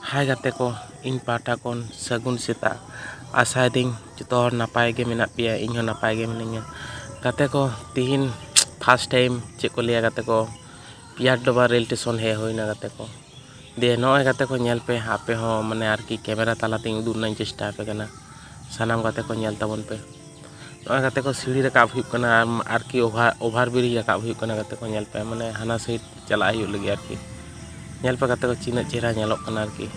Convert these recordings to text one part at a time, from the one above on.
ᱦᱟᱭ ᱜᱟᱛᱮ ᱠᱚ ᱤᱧ ᱯᱟᱦᱴᱟ ᱠᱷᱚᱱ ᱥᱟᱹᱜᱩᱱ ᱥᱮᱛᱟᱜ ᱟᱥᱟᱭᱮᱫᱟᱹᱧ ᱡᱚᱛᱚ ᱦᱚᱲ ᱱᱟᱯᱟᱭ ᱜᱮ ᱢᱮᱱᱟᱜ ᱯᱮᱭᱟ ᱤᱧ ᱦᱚᱸ ᱱᱟᱯᱟᱭ ᱜᱮ ᱢᱤᱱᱟᱹᱧᱟ ᱜᱟᱛᱮ ᱠᱚ ᱛᱤᱦᱤᱧ ᱯᱷᱟᱥᱴ ᱴᱟᱭᱤᱢ ᱪᱮᱫ ᱠᱚ ᱞᱟᱹᱭᱟ ᱜᱟᱛᱮ ᱠᱚ ᱯᱤᱭᱟᱨ ᱰᱚᱵᱟ ᱨᱮᱞ ᱴᱮᱥᱚᱱ ᱦᱮᱡ ᱦᱩᱭᱱᱟ ᱜᱟᱛᱮ ᱠᱚ ᱫᱤᱭᱮ ᱱᱚᱜᱼᱚᱸᱭ ᱜᱟᱛᱮ ᱠᱚ ᱧᱮᱞ ᱯᱮ ᱟᱯᱮ ᱦᱚᱸ ᱢᱟᱱᱮ ᱟᱨᱠᱤ ᱠᱮᱢᱮᱨᱟ ᱛᱟᱞᱟ ᱛᱮᱧ ᱩᱫᱩᱜ ᱨᱮᱱᱟᱜ ᱤᱧ ᱪᱮᱥᱴᱟ ᱟᱯᱮ ᱠᱟᱱᱟ ᱥᱟᱱᱟᱢ ᱜᱟᱛᱮ ᱠᱚ ᱧᱮᱞ ᱛᱟᱵᱚᱱ ᱯᱮ ᱱᱚᱜᱼᱚᱸᱭ ᱜᱟᱛᱮ ᱠᱚ ᱥᱤᱲᱤ ᱨᱟᱠᱟᱵ ᱦᱩᱭᱩᱜ ᱠᱟᱱᱟ ᱟᱨᱠᱤ ᱚᱵᱷᱟᱨ ᱚᱵᱷᱟᱨ ᱵᱨᱤᱡᱽ ᱨᱟᱠᱟᱵ ᱦᱩᱭᱩᱜ ᱠᱟᱱᱟ ᱜᱟᱛᱮ ᱠᱚ ᱧᱮᱞ ᱯᱮ ᱢᱟᱱᱮ ᱦᱟᱱᱟ ᱥᱟᱭᱤᱰ ᱪᱟᱞᱟᱜ ᱦᱩᱭᱩᱜ ᱞᱟᱹᱜᱤᱫ ᱟᱨᱠᱤ ᱧᱮᱞ ᱯᱮ ᱜᱟᱛᱮ ᱠᱚ ᱛᱤᱱᱟᱹᱜ ᱪᱮᱦᱨᱟ ᱧᱮᱞᱚᱜ ᱠᱟᱱᱟ ᱟᱨᱠᱤ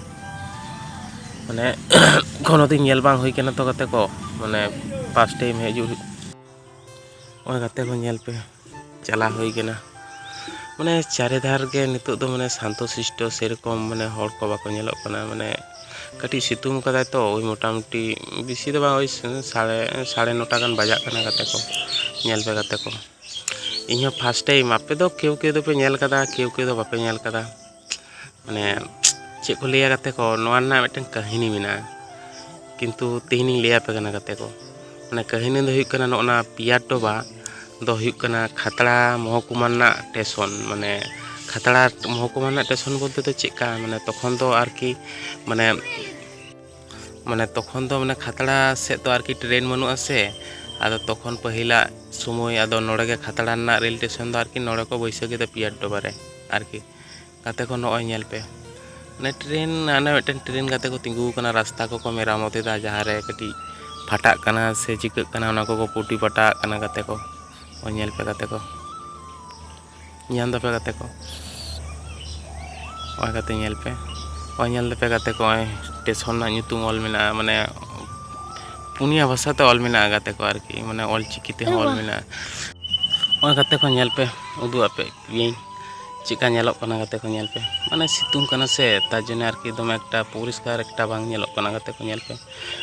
ᱢᱟᱱᱮ ᱠᱳᱱᱳ ᱫᱤᱱ ᱧᱮᱞ ᱵᱟᱝ ᱦᱩᱭ ᱠᱟᱱᱟ ᱛᱚ ᱜᱟᱛᱮ ᱠᱚ ᱢᱟᱱᱮ ᱯᱷᱟᱥᱴ ᱴᱟᱭᱤᱢ ᱦᱤᱡᱩᱜ ᱱᱚᱜᱼᱚᱭ ᱜᱟᱛᱮ ᱠᱚ ᱧᱮᱞ ᱯᱮ ᱪᱟᱞᱟᱣ ᱦᱩᱭ ᱠᱟᱱᱟ ᱢᱟᱱᱮ ᱪᱟᱨᱮ ᱫᱷᱟᱨ ᱜᱮ ᱱᱤᱛᱚᱜ ᱫᱚ ᱢᱟᱱᱮ ᱥᱟᱱᱛᱚ ᱥᱤᱥᱴᱚ ᱥᱮᱨᱚᱠᱚᱢ ᱢᱟᱱᱮ ᱦᱚᱲ ᱠᱚ ᱵᱟᱠᱚ ᱧᱮᱞᱚᱜ ᱠᱟᱱᱟ ᱢᱟᱱᱮ ᱠᱟᱹᱴᱤᱡ ᱥᱤᱛᱩᱝ ᱠᱟᱫᱟᱭ ᱛᱚ ᱳᱭ ᱢᱚᱴᱟᱢᱩᱴᱤ ᱵᱮᱥᱤ ᱫᱚ ᱵᱟᱝ ᱳᱭ ᱥᱟᱲᱮ ᱥᱟᱲᱮ ᱱᱚᱴᱟ ᱜᱟᱱ ᱵᱟᱡᱟᱜ ᱠᱟᱱᱟ ᱜᱟᱛᱮ ᱠᱚ ᱧᱮᱞ ᱯᱮ ᱜᱟᱛᱮ ᱠᱚ ᱤᱧᱦᱚᱸ ᱯᱷᱟᱥᱴ ᱴᱟᱭᱤᱢ ᱟᱯᱮ ᱫᱚ ᱠᱮᱣ ᱠᱮᱣ ᱫᱚᱯᱮ ᱧᱮᱞ ᱠᱟᱫᱟ ᱠᱮᱣ ᱠᱮᱣ ᱫᱚ ᱵᱟᱯᱮ ᱧᱮᱞ ᱠᱟᱫᱟ ᱢᱟᱱᱮ ᱪᱮᱫ ᱠᱚ ᱞᱟᱹᱭᱟ ᱜᱟᱛᱮ ᱠᱚ ᱱᱚᱣᱟ ᱨᱮᱱᱟᱜ ᱢᱤᱫᱴᱮᱱ ᱠᱟᱹᱦᱱᱤ ᱢᱮᱱᱟᱜᱼᱟ ᱠᱤᱱᱛᱩ ᱛᱮᱦᱮᱧᱤᱧ ᱞᱟᱹᱭᱟᱯᱮ ᱠᱟᱱᱟ ᱜᱟᱛᱮ ᱠᱚ ᱢᱟᱱᱮ ᱠᱟᱹᱦᱱᱤ ᱫᱚ ᱦᱩᱭᱩᱜ ᱠᱟᱱᱟ ᱱᱚᱜᱼᱚ ᱱᱟ ᱯᱤᱭᱟᱨ ᱴᱚᱵᱟ ᱫᱚ ᱦᱩᱭᱩᱜ ᱠᱟᱱᱟ ᱠᱷᱟᱛᱲᱟ ᱢᱚᱦᱚᱠᱩᱢᱟ ᱨᱮᱱᱟᱜ ᱴᱮᱥᱚᱱ ᱢᱟᱱᱮ ᱠᱷᱟᱛᱲᱟ ᱢᱚᱦᱚᱠᱩᱢᱟ ᱨᱮᱱᱟᱜ ᱴᱮᱥᱚᱱ ᱵᱚᱞᱛᱮ ᱫᱚ ᱪᱮᱫᱠᱟ ᱢᱟᱱᱮ ᱛᱚᱠᱷᱚᱱ ᱫᱚ ᱟᱨᱠᱤ ᱢᱟᱱᱮ ᱢᱟᱱᱮ ᱛᱚᱠᱷᱚᱱ ᱫᱚ ᱢᱟᱱᱮ ᱠᱷᱟᱛᱲᱟ ᱥᱮᱫ ᱫᱚ ᱟᱨᱠᱤ ᱴᱨᱮᱱ ᱵᱟᱹᱱᱩᱜᱼᱟ ᱥᱮ ᱟᱫᱚ ᱛᱚᱠᱷᱚᱱ ᱯᱟᱹᱦᱤᱞᱟᱜ ᱥᱚᱢᱚᱭ ᱟᱫᱚ ᱱᱚᱰᱮ ᱜᱮ ᱠᱷᱟᱛᱲᱟ ᱨᱮᱱᱟᱜ ᱨᱮᱞ ᱥᱴᱮᱥᱚᱱ ᱫᱚ ᱟᱨᱠᱤ ᱱᱚᱰᱮ ᱠᱚ ᱵᱟᱹᱭᱥᱟᱹᱣ ᱠᱮᱫᱟ ᱯᱤᱭᱟᱨ ᱰᱚᱵᱟ ᱨᱮ ᱟᱨᱠᱤ ᱜᱟᱛᱮ ᱠᱚ ᱱᱚᱜᱼᱚᱭ ᱧᱮᱞ ᱯᱮ ᱢᱟᱱᱮ ᱴᱨᱮᱱ ᱦᱟᱱᱮ ᱢᱤᱫᱴᱮᱱ ᱴᱨᱮᱱ ᱜᱟᱛᱮ ᱠᱚ ᱛᱤᱸᱜᱩ ᱟᱠᱟᱱᱟ ᱨᱟᱥᱛᱟ ᱠᱚᱠᱚ ᱢᱮᱨᱟᱢᱚᱛ ᱮᱫᱟ ᱡᱟᱦᱟᱸ ᱨᱮ ᱠᱟᱹᱴᱤᱡ ᱯᱷᱟᱴᱟᱜ ᱠᱟᱱᱟ ᱥᱮ ᱪᱤᱠᱟᱹᱜ ᱠᱟᱱᱟ ᱚᱱᱟ ᱠᱚᱠᱚ ᱯᱩᱴᱤ ᱯᱟᱴᱟᱜ ᱠᱟᱱᱟ ᱜᱟᱛᱮ ᱠᱚ ᱧᱮᱞ ᱯᱮ ᱜᱟᱛᱮ ᱠᱚ ᱧᱟᱢ ᱫᱟᱯᱮ ᱜᱟᱛᱮ ᱠᱚ ᱱᱚᱜᱼᱚᱭ ᱜᱟᱛᱮ ᱧᱮᱞ ᱯᱮ ᱱᱚᱜᱼᱚᱭ ᱧᱮᱞ ᱫᱟᱯᱮ ᱜᱟᱛᱮ ᱠᱚ ᱱᱚᱜᱼᱚᱭ ᱥᱴᱮᱥᱚᱱ ᱨᱮᱱᱟᱜ ᱧᱩᱛᱩᱢ ᱚᱞ ᱢᱮᱱᱟᱜᱼᱟ ᱢᱟᱱᱮ ᱯᱩᱱᱭᱟ ᱵᱷᱟᱥᱟ ᱛᱮ ᱚᱞ ᱢᱮᱱᱟᱜᱼᱟ ᱜᱟᱛᱮ ᱠᱚ ᱟᱨᱠᱤ ᱢᱟᱱᱮ ᱚᱞ ᱪᱤᱠᱤ ᱛᱮᱦᱚᱸ ᱚᱞ ᱢᱮᱱᱟᱜᱼᱟ ᱱᱚᱜᱼᱚᱭ ᱜᱟᱛᱮ ᱠᱚ ᱧᱮᱞ ᱯᱮ ᱩᱫᱩᱜ ᱟᱯᱮ ᱜᱤᱭᱟᱹᱧ ᱪᱮᱫᱠᱟ ᱧᱮᱞᱚᱜ ᱠᱟᱱᱟ ᱜᱟᱛᱮ ᱠᱚ ᱧᱮᱞ ᱯᱮ ᱢᱟᱱᱮ ᱥᱤᱛᱩᱝ ᱠᱟᱱᱟ ᱥᱮ ᱛᱟᱨ ᱡᱚᱱᱱᱚ ᱟᱨᱠᱤ ᱫᱚᱢᱮ ᱮᱠᱴᱟ ᱯᱚᱨᱤᱥᱠᱟᱨ ᱮᱠᱴᱟ ᱵᱟᱝ ᱧᱮᱞᱚᱜ ᱠᱟᱱᱟ ᱜᱟᱛᱮ ᱠᱚ ᱧᱮᱞ ᱯᱮ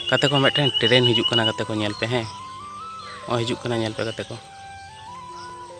ᱜᱟᱛᱮ ᱠᱚ ᱢᱤᱫᱴᱮᱱ ᱴᱨᱮᱱ ᱦᱤᱡᱩᱜ ᱠᱟᱱᱟ ᱜᱟᱛᱮ ᱠᱚ ᱧᱮᱞ ᱯᱮ ᱦᱮᱸ ᱱᱚᱜᱼᱚᱭ ᱦᱤᱡᱩᱜ ᱠᱟᱱᱟ ᱧᱮᱞ ᱯᱮ ᱜᱟᱛᱮ ᱠᱚ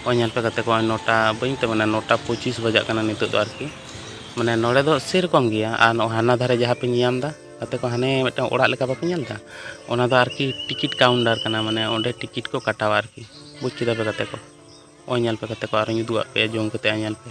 ᱱᱚᱜᱼᱚᱭ ᱧᱮᱞ ᱯᱮ ᱜᱟᱛᱮ ᱠᱚ ᱱᱚᱜᱼᱚᱭ ᱱᱚᱴᱟ ᱵᱟᱹᱧ ᱢᱮᱛᱟᱜ ᱠᱟᱱᱟ ᱱᱚᱴᱟ ᱯᱚᱸᱪᱤᱥ ᱵᱟᱡᱟᱜ ᱠᱟᱱᱟ ᱱᱤᱛᱚᱜ ᱫᱚ ᱟᱨᱠᱤ ᱢᱟᱱᱮ ᱱᱚᱰᱮ ᱫᱚ ᱥᱮᱨᱚᱠᱚᱢ ᱜᱮᱭᱟ ᱟᱨ ᱱᱚᱜᱼᱚᱭ ᱦᱟᱱᱟ ᱫᱷᱟᱨᱮ ᱡᱟᱦᱟᱸ ᱯᱮ ᱧᱮᱞᱧᱟᱢ ᱮᱫᱟ ᱜᱟᱛᱮ ᱠᱚ ᱦᱟᱱᱮ ᱢᱤᱫᱴᱟᱝ ᱚᱲᱟᱜ ᱞᱮᱠᱟ ᱵᱟᱯᱮ ᱧᱮᱞ ᱮᱫᱟ ᱚᱱᱟ ᱫᱚ ᱟᱨᱠᱤ ᱴᱤᱠᱤᱴ ᱠᱟᱣᱩᱱᱴᱟᱨ ᱠᱟᱱᱟ ᱢᱟᱱᱮ ᱚᱸᱰᱮ ᱴᱤᱠᱤᱴ ᱠᱚ ᱠᱟᱴᱟᱣᱟ ᱟᱨᱠᱤ ᱵᱩᱡᱽ ᱠᱮᱫᱟ ᱯᱮ ᱜᱟᱛᱮ ᱠᱚ ᱱᱚᱜᱼᱚᱭ ᱧᱮᱞ ᱯᱮ ᱜᱟᱛᱮ ᱠᱚ ᱟᱨᱚᱧ ᱩᱫᱩᱜ ᱟᱜ ᱯᱮᱭᱟ ᱡᱩᱢ ᱠᱟᱛᱮᱫ ᱧᱮᱞ ᱯᱮ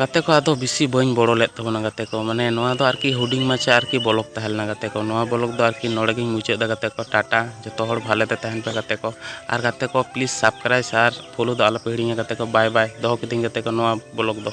ᱜᱟᱛᱮ ᱠᱚ ᱟᱫᱚ ᱵᱮᱥᱤ ᱵᱟᱹᱧ ᱵᱚᱲᱚ ᱞᱮᱫ ᱛᱟᱵᱚᱱᱟ ᱜᱟᱛᱮ ᱠᱚ ᱢᱟᱱᱮ ᱱᱚᱣᱟ ᱫᱚ ᱟᱨᱠᱤ ᱦᱩᱰᱤᱧ ᱢᱟᱪᱷᱟ ᱟᱨᱠᱤ ᱵᱚᱞᱚᱠ ᱛᱟᱦᱮᱸ ᱞᱮᱱᱟ ᱜᱟᱛᱮ ᱠᱚ ᱱᱚᱣᱟ ᱵᱚᱞᱚᱠ ᱫᱚ ᱟᱨᱠᱤ ᱱᱚᱰᱮ ᱜᱤᱧ ᱢᱩᱪᱟᱹᱫ ᱮᱫᱟ ᱜᱟᱛᱮ ᱠᱚ ᱴᱟᱴᱟ ᱡᱚᱛᱚ ᱦᱚᱲ ᱵᱷᱟᱞᱮ ᱛᱮ ᱛᱟᱦᱮᱱ ᱯᱮ ᱜᱟᱛᱮ ᱠᱚ ᱟᱨ ᱜᱟᱛᱮ ᱠᱚ ᱯᱞᱤᱡᱽ ᱥᱟᱵᱥᱠᱨᱟᱭᱤᱵᱽ ᱟᱨ ᱯᱷᱳᱞᱳ ᱫᱚ ᱟᱞᱚᱯᱮ ᱦᱤᱲᱤᱧᱟ ᱜᱟᱛᱮ ᱠᱚ ᱵᱟᱭ ᱵᱟᱭ ᱫᱚᱦᱚ ᱠᱤᱫᱟᱹᱧ ᱜᱟᱛᱮ ᱠᱚ ᱱᱚᱣᱟ ᱵᱚᱞᱚᱠ ᱫᱚ